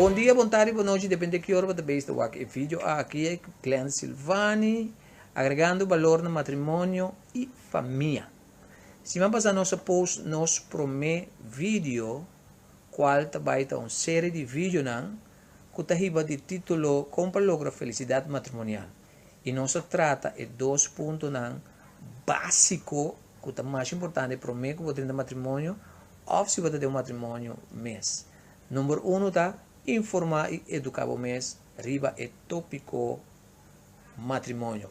Bon dia, bon tardi, bon nochi, depende di ki ora bo ta besta wak e video aki. Ey cu Clen Silvany, agregando balor na matrimonio y famia. Siman pasa nos a post nos prome video. kual ta bai ta un serie di videonan ku ta hiba di titulo Kon pa logra felisidat matrimonial i nos a trata e dos puntonan básiko ku ta mas importante promé ku bo ta drinta matrimonio òf si bo ta den un matrimonio mes. Number uno ta informá i eduká bo mes riba e tópiko matrimonio.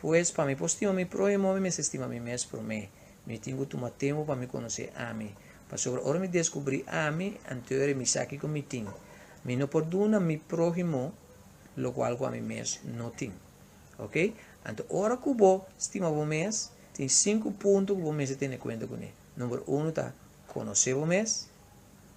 Pues, pa mi por stima mi prohimo, mi mester stima mi mes promé. Mi tin cu tuma tempu pa mi conoce ami. Pasobra ora mi descubri ami, anteori mi sa kico mi tin. Mi no por duna mi prohimo locual cu ami mes no tin. Ok? Anto, ora cu bo stima bo mes, tin sinku punto cu bo mester tene cuenta cu ne. Number uno ta, conoce bo mes.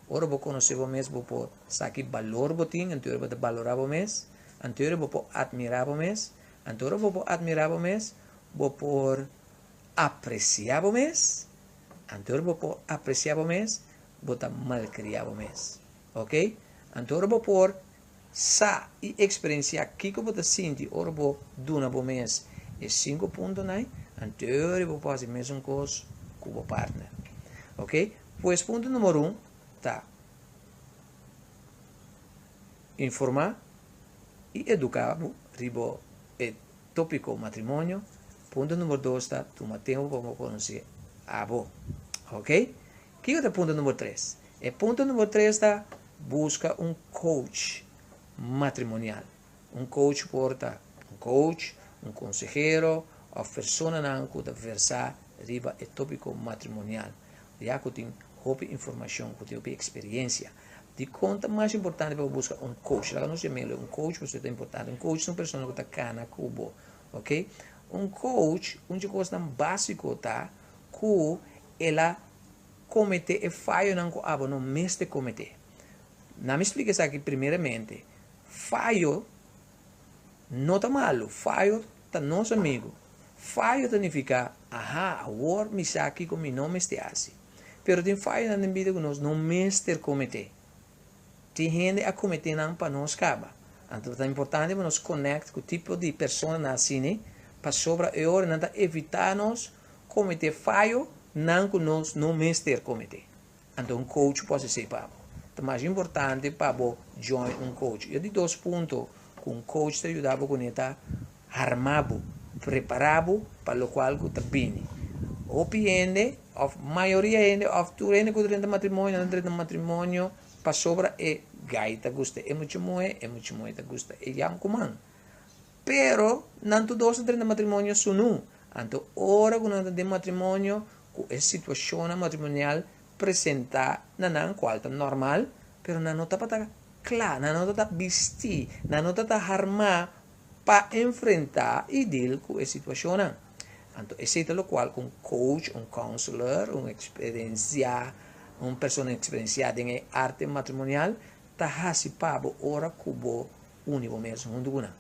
Ora bo conoce bo mes, bo por sa ki balor bo tin, anteori bo ta balora bo mes. Anteori bo por admira bo mes. Anto ora bo por admirá bo mes, bo por apresiá bo mes. Anto ora bo por apresiá bo mes, bo ta malkriá bo mes. Oke? Anto ora bo por sa i eksperensiá kiko bo ta sinti ora bo duna bo mes e sinku puntonan, anto ora i bo por hasi mesun kos ku bo partner. Oke? Pues punto numero un ta informá i eduká bo riba e tópiko matrimonio. Punto número dos ta tuma tempu pa bo konosé abo. Ok? Kiko ta punto número tres? E punto número tres ta buska un coach matrimonial. Un coach por ta un coach, un konsehero òf personanan ku ta versá riba e tópiko matrimonial. Ya cu tin hopi informacion, cu tin hopi experiencia, dicon ta mas importante pa bo busca un coach? Laga nos yam'e lo un coach pasobra e ta importante. Un coach ta un persona cu ta cana cu bo, ok? Un coach, un dje cosnan basico ta cu el a comete e fayonan cu abo no mester comete. Na mi splica esaki primeramente, fayo. No ta malu, fayo ta nos amigu. Fayo ta nifiká, Aha, awor mi sa kiko mi no mester hasi. Pero tin fayonan den bida ku nos no mester kometé. Tin hende a kometé nan pa nos kaba. Anto ta importante pa nos konèkt ku tipo di personanan asina, pasobra e ora nan ta evitá nos kometé fayonan ku nos no mester kometé. Anto un coach por esey pa bo. Ta mas importante pa bo join un coach. E ta di dos punto cu un coach ta yuda bo cune ta arma bo, prepara bo pa locual cu ta bini. Hopi hende of mayoria hende of tur hende cu ta drenta matrimonio no ta drenta matrimonio pasobra e guy ta gusta e mucha muhe, e mucha muhe ta gusta e yamcuman. Pero, nan tur dos ta drenta matrimonio su nu. Anto ora ku nan ta den matrimonio ku e situashonnan matrimonial presentá na nan kual ta normal, pero nan no tabata kla, nan no tabata bistí, nan no tabata harmá pa enfrentá i dil ku e situashonnan. Anto esei ta lokual un kouch, un kounsler, un eksperensiá, un persona eksperensiá den e arte matrimonial ta hasi pa bo ora ku bo uni bo mesun huntu ku nan.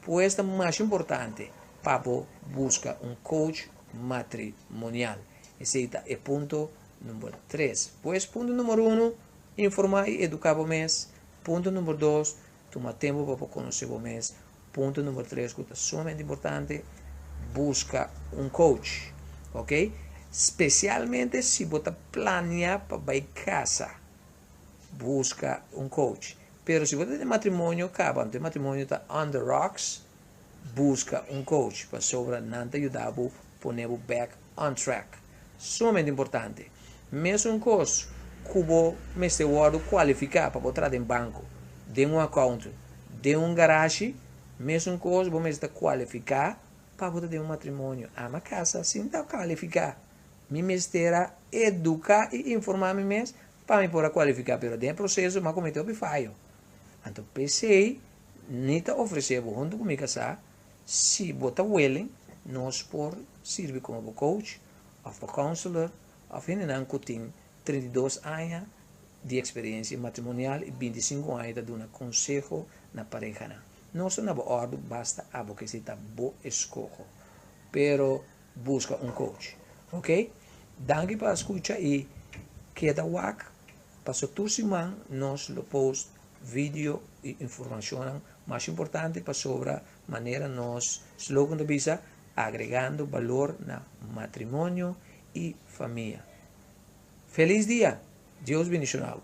Pues ta masha importante pa bo buska un coach matrimonial. Esei ta e punto number tres. Pues punto number uno, informá i eduká bo mes. Punto number dos, tuma tempu pa bo konosé bo mes. Punto number tres ku ta sumamente importante, buska un coach. Ok? Spesialmente si bo ta planea pa bai kasa. Busca un coach. Pero si bo ta den matrimonio caba, anto e matrimonio ta on the rocks, busca un coach pasobra nan ta yuda bo pone bo back on track. Sumamente importante. Mesun cos cu bo mester wordo cualifica pa bo traha den banco, den un account, den un garashi, mesun cos bo mester ta cualifica pa bo ta den un matrimonio. Ama casa sin ta califica. Mi mester a educa y informa mi mes pa mi por a cualifica, pero den e proceso mi a comete hopi fayo. Anto p'esey ni ta ofrece bo hunto cu mi casa, si bo ta willing nos por sirbi como bo coach of bo counselor of hendenan cu tin treinta i dos aña di experiencia matrimonial y binti sinku aña ta duna conseho na parehanan. Nos ta na bo ordu basta abo k'esey ta bo escoho, pero Busca un coach ok. Danki pa scucha y keda wak paso tur siman nos lo post video y informacionnan mas importante pasobra manera nos slogan ta bisa agregando balor na matrimonio y famia. Feliz dia! Dios bendiciona bo.